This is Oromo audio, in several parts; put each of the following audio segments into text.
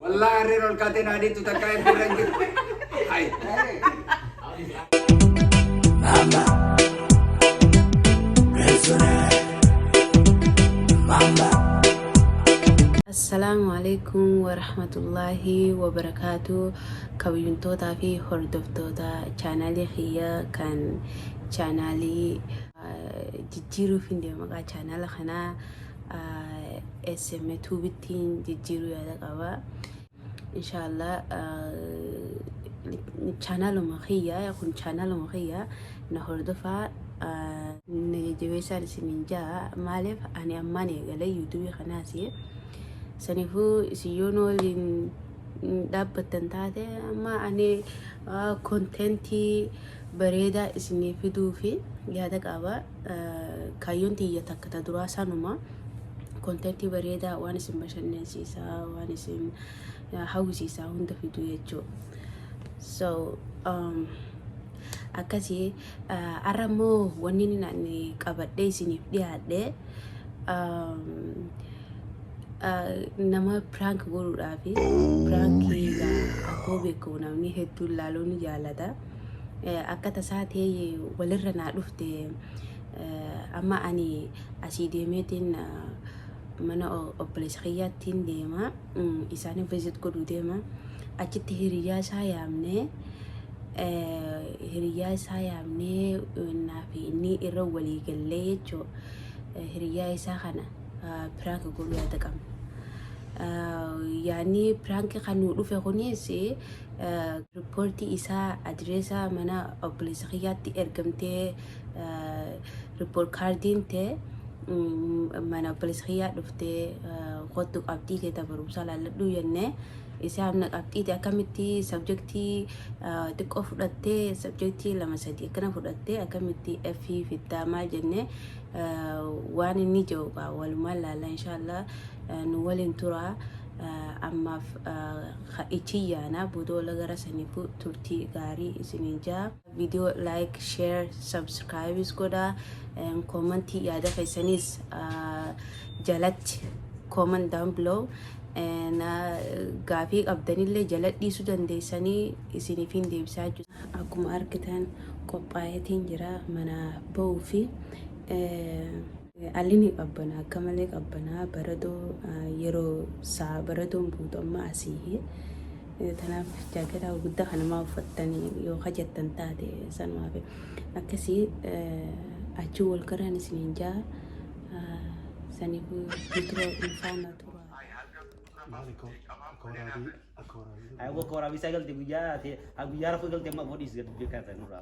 Wallahi harreen ol kaatee naa deettu takkaa FB irra hin jirtu. Hai. Mama. Persona. Mama. Assalaamu alaikum warahmatullaahi wabarakaatu kabajuntootaa fi hordoftoota chaanaalii kiyya kan chaanaalii jijjiiruuf hin deema maqaa chaanaala kanaa sm tuubittiin jijjiiruu yaada qaba inshaallah chaanaaluma kiyya kun chaanaaluma kiyya na hordofaa na jajjabeessaan isiniin ja'a maaliif ani ammaan eegalee yuutuubii kanaas sanifuu isin yoon waliin dhaabbattan taate amma ani konteentii bareedaa isinii fiduufi yaada qaaba. Kaayyoon tiyya takka ta duraa sanuma kontentii bareedaa waan isin bashannansiisaa waan isin hawwisiisaa hunda fiduu jechuu. So um, akkasii har'a immoo wanni inni ani qabadhee isiniif dhiyaadhe um, uh, nama piraank godhuudhaafi Oh, piraankiidha akkoo yeah. beekamu namni hedduun laaluu ni jaalata. akka tasaa ta'ee walirra naa dhufte amma ani asii deemeetiin mana obboleessa kiyyaattiin deema isaanii visit godhuu deema achitti hiriyyaa isaa yaamnee hiriyyaa isaa yaamnee innaa fi inni irra walii gallee jechuu hiriyyaa isaa kana piraank godhuu yaada qabna. yaanni piraanki kan nu dhufe kunis Ripoortii isaa adireesa mana obboleessa kiyyaatti ergamtee ripoort kaardiin tee mana obboleessa kiyyaa dhuftee kottu qabxii tee ta barumsaa laalladhuu jennee isaa amna qabxiiti akkamitti sabjektii xiqqoo fudhattee sabjektii lama sadii akkana fudhattee akkamitti F fiddaamaa jennee waan inni jedhu kaa walumaan laalla inshaallah nu waliin turaa ammaaf ha ichi yaana bodoola gara sanifu turti gaari isini jaa video like share subscribes godha and comment yaada keessanis uh, jalatti comment down below and uh, gaafii qabdanillee jala dhiisuu dandeessanii isiniif hin deebisaa jiru akkuma argitan qophaa'eetiin jira mana ba'uu fi eh, Alini qabbana akka malee qabbanaa baratoo yeroo saa baratoon buutu amma asiihi tanaaf jaakketaa guddaa kanamaa uffattanii yoo hajattan taate sanumaaf akkasii achi wal garaan isiniin jaa saniifuu nutura ulfaana tura. Maali koo akka waraabii akka waraabii. Ayo gua kora bisa galte guyya te ha guyya rafu galte ma bodis galte kan tanura.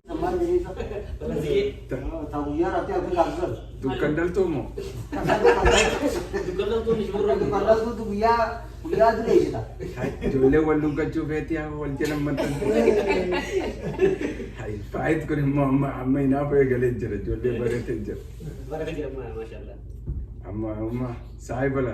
Dukkan daltuu moo? Ijoollee wal duggachuu feetii haa wal jala maxxan. Faayit kun immoo amma amma hinaafa eegalee jira ijoollee bareetee jira. Amma amma saayibala.